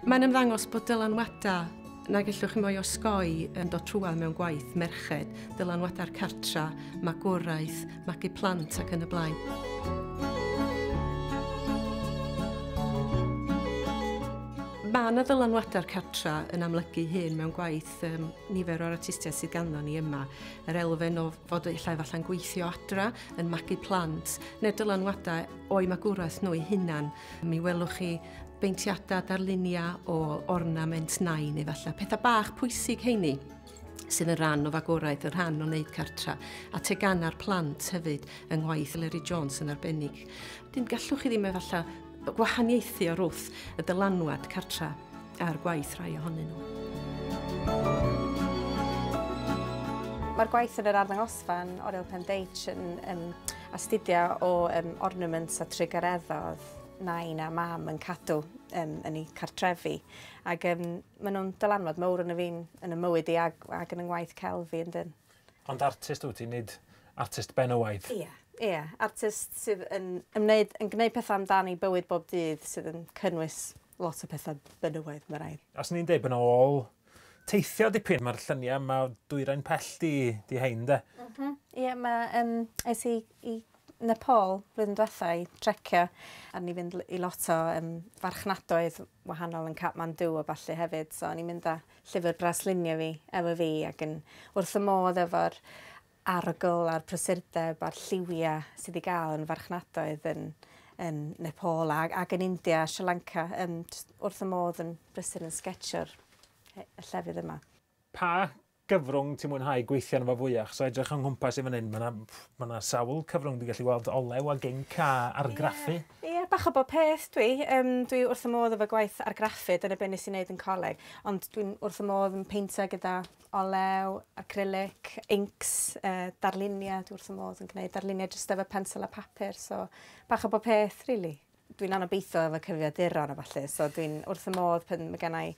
Mae'n ymddangos bod dylanwadau na gellwch chi mwy osgoi yn dod trwad mewn gwaith merched, dylanwadau'r cartra, magwraeth, magu plant ac yn y blaen. Mae yna ddylanwadau'r cartra yn amlygu hyn mewn gwaith um, nifer o'r artistiaid sydd ganddo ni yma. Yr elfen o fod illa efallai'n gweithio adra, yn magu plant, neu dylanwadau o'i magwraeth nhw'i hunan. Mi welwch chi beintiadau, darluniau o ornament nain efallai. Pethau bach pwysig heini sydd yn rhan o fagwraeth, yn rhan o wneud cartra, a tegana'r plant hefyd yng ngwaith Leri Jones yn arbennig. Dyn gallwch chi ddim efallai gwahaniaethu o'r wrth y dylanwad cartra a'r gwaith rhai ohonyn nhw. Mae'r gwaith yn yr arddangosfan Oriel Pen Deitch yn um, astudio o um, ornaments a trugareddodd nain a mam yn cadw um, yn ei cartrefi. Ac um, maen nhw'n dylanwad mawr yn y fi'n yn y mywyd i ag, ag yn yng ngwaith celf fi yn dyn. Ond artist wyt ti, nid artist benywaidd. Ie, ie, artist sydd yn ymwneud, yn gwneud pethau amdani bywyd bob dydd sydd yn cynnwys lot o pethau benywaidd, mae rhaid. Os ni'n deud bod yna ôl teithio dipyn, mae'r lluniau yma dwyrain pell di, di hein de. Mm -hmm. Ie, mae, um, es i, i Nepal flwyddyn diwetha i trecio a ni fynd i lot o um, farchnadoedd wahanol yn Kathmandu o falle hefyd, so ni'n mynd â Llyfr braslunio fi, efo fi ac yn wrth fy modd efo'r arogl a'r prysurdeb a'r lliwia sydd wedi gael yn farchnadoedd yn yn Nepal a, ac yn India a Sri Lanka. Um, wrth y modd yn brysur yn sgetsio'r llefydd yma. Pa gyfrwng ti'n mwynhau gweithio yno fo fwyach? So edrych yng nghwmpas i fan hyn, mae yna ma sawl cyfrwng dwi'n gallu weld olew a ginc a argraffu. Yeah. Ie, bach o bob peth dwi. Yym, dwi wrth fy modd efo gwaith argraffu, dyna be' nes i neud yn coleg, ond dwi'n wrth fy modd yn peintio gyda olew, acrylic, inks, yy darlunia, dwi wrth fy modd yn gneud darlunia jyst efo pensel a papur, so bach o bob peth rili. Dwi'n anobeithiol efo cyfrifiaduron a ballu, so dwi'n wrth fy modd pan ma' gennai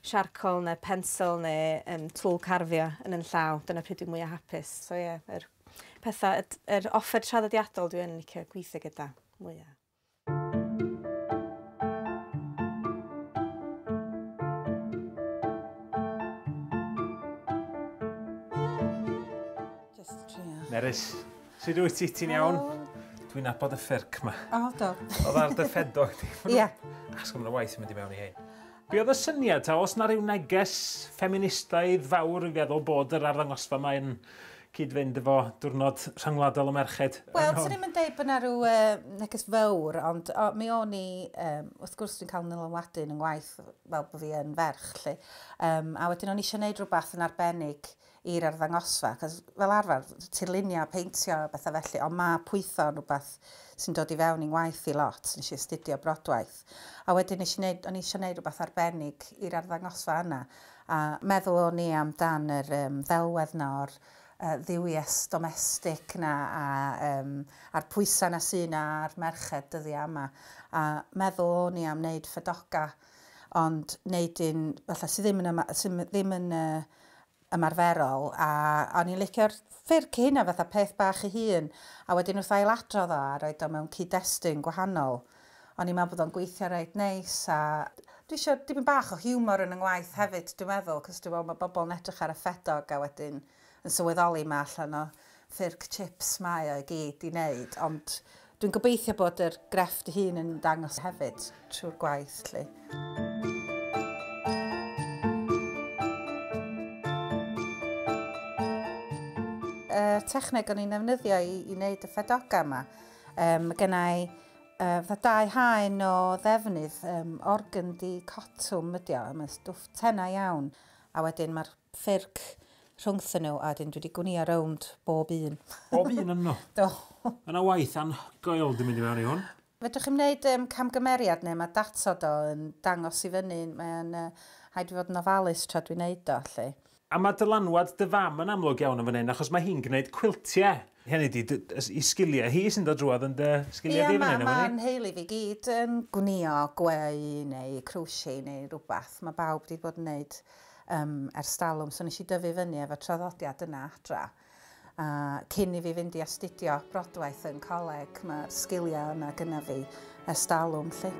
siarcol ne' pensel ne' yym twll carfio yn 'yn llaw, dyna pryd dwi mwya hapus, so ie, yr Pethau, y, yr offer traddodiadol dwi yn licio gweithio gyda mwya. Just trio. Nerys, sut wyt ti? Ti'n iawn? Dwi'n abod y ffyrc ma. O, do. Oedd ar dy ffedo i ti. Ie. Asgwm na waith yn mynd i mewn i hyn. Be oedd y syniad ta, os na rhyw neges ffeministaidd fawr yn feddwl bod yr arddangosfa mae'n cyd-fynd efo diwrnod rhyngwladol y merched. Wel, swn i'm yn deud bod yna rhyw neges fawr, ond mi o'n i, wrth gwrs dwi'n cael nylanwadu yn yng ngwaith fel bod fi yn ferch, lly. a wedyn o'n i eisiau gwneud rhywbeth yn arbennig i'r arddangosfa, achos fel arfer, tirlunio, peintio, bethau felly, ond mae pwytho yn rhywbeth sy'n dod i fewn i'n ngwaith i lot, nes i astudio brodwaith. A wedyn nes i wneud, o'n i eisiau gwneud rhywbeth arbennig i'r arddangosfa yna. A meddwl o'n i am dan yr yym ddelwedd 'na o'r yy dduwies domestig 'na a yym a'r pwysa' 'na sy' 'na ar merched dyddia' yma. A meddwl o'n i am neud ffedoga ond neud un fatha sy' ddim yn yma- sy' m- ddim yn yy ymarferol a o'n i'n licio'r ffyrdd cyn hynna fatha peth bach ei hun a wedyn wrth ail-adrodd o a roid o mewn cyd-destun gwahanol O'n i'n meddwl bod o'n gweithio reit neis a dwi eisiau dipyn bach o hiwmor yn 'y ngwaith hefyd dwi'n meddwl cos dwi'n meddwl mae bobl yn edrych ar y ffedog a wedyn yn sylweddoli mae allan o ffyrc chips mae o i gyd i wneud ond dwi'n gobeithio bod yr grefft ei hun yn dangos hefyd trwy'r gwaith 'lly. y techneg o'n i'n ddefnyddio i, i wneud y ffedoga yma. Um, mae gennau uh, fatha dau haen o ddefnydd, um, organdi cotwm ydi o, mae'n stwff tena iawn, a wedyn mae'r ffyrc rhwngthyn nhw, a wedyn dwi wedi gwnio rownd bob un. Bob un yn nhw? Do. Yna waith anhygoel dwi'n mynd i mewn i hwn. Fedrwch chi'n gwneud um, camgymeriad neu mae datod o yn dangos i fyny, mae'n uh, haid i fod yn ofalus tra dwi'n neud o, lle. A ma dylanwad dy fam yn amlwg iawn yn fan hyn achos ma hi'n gneud cwiltie. Hynny di dy y i sgilie hi sy'n dod drwodd yn dy sgilie di fan hyn am wn i. Ia ma ma nheulu fi gyd yn gwnïo gweu neu crochet neu rwbath ma bawb di bod yn neud yym ers dalwm so neshi dyfu fyny efo traddodiad yna adra. A cyn i fi fynd i astudio brodwaith yn coleg, mae'r sgiliau yna gyda fi ers dalwm, lle.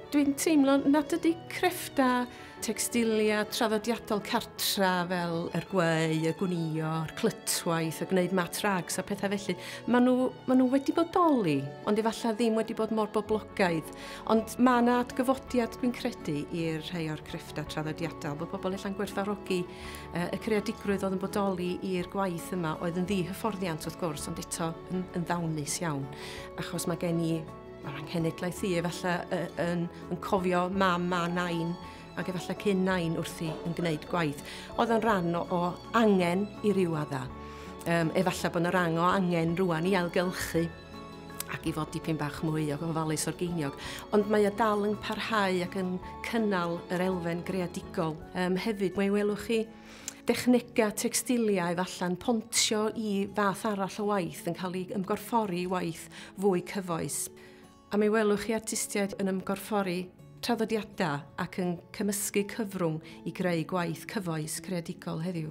dwi'n teimlo nad ydy crefftau Tecstilia traddodiadol cartra fel yr gweu, y gwnïo, yr clytwaith, y gwneud mat rags a pethau felly. Maen nhw, maen nhw wedi bodoli, ond efallai ddim wedi bod mor boblogaidd. Ond mae yna adgyfodiad, dwi'n credu, i'r rhai o'r crefftau traddodiadol, bod pobl ella'n gwerthfarogi uh, y creadigrwydd oedd yn bodoli i'r gwaith yma, oedd yn ddi hyfforddiant wrth gwrs, ond eto yn, yn ddawnus iawn, achos mae gen i Mae'r anghenedlaeth i efallai yy yn yn cofio mam a nain ac efallai cyn nain wrthi yn gwneud gwaith. Oedd o'n rhan o, o angen i ryw adda. Um, efallai bod yna rang o angen rwan i ailgylchu ac i fod dipyn bach mwy o ofalus o'r geiniog. Ond mae o dal yn parhau ac yn cynnal yr elfen greadigol um, hefyd. Mae welwch chi dechnegau textiliau falle'n pontio i fath arall o waith yn cael ei ymgorffori i waith fwy cyfoes. A mi welwch chi artistiaid yn ymgorffori traddodiadau ac yn cymysgu cyfrwng i greu gwaith cyfoes creadigol heddiw.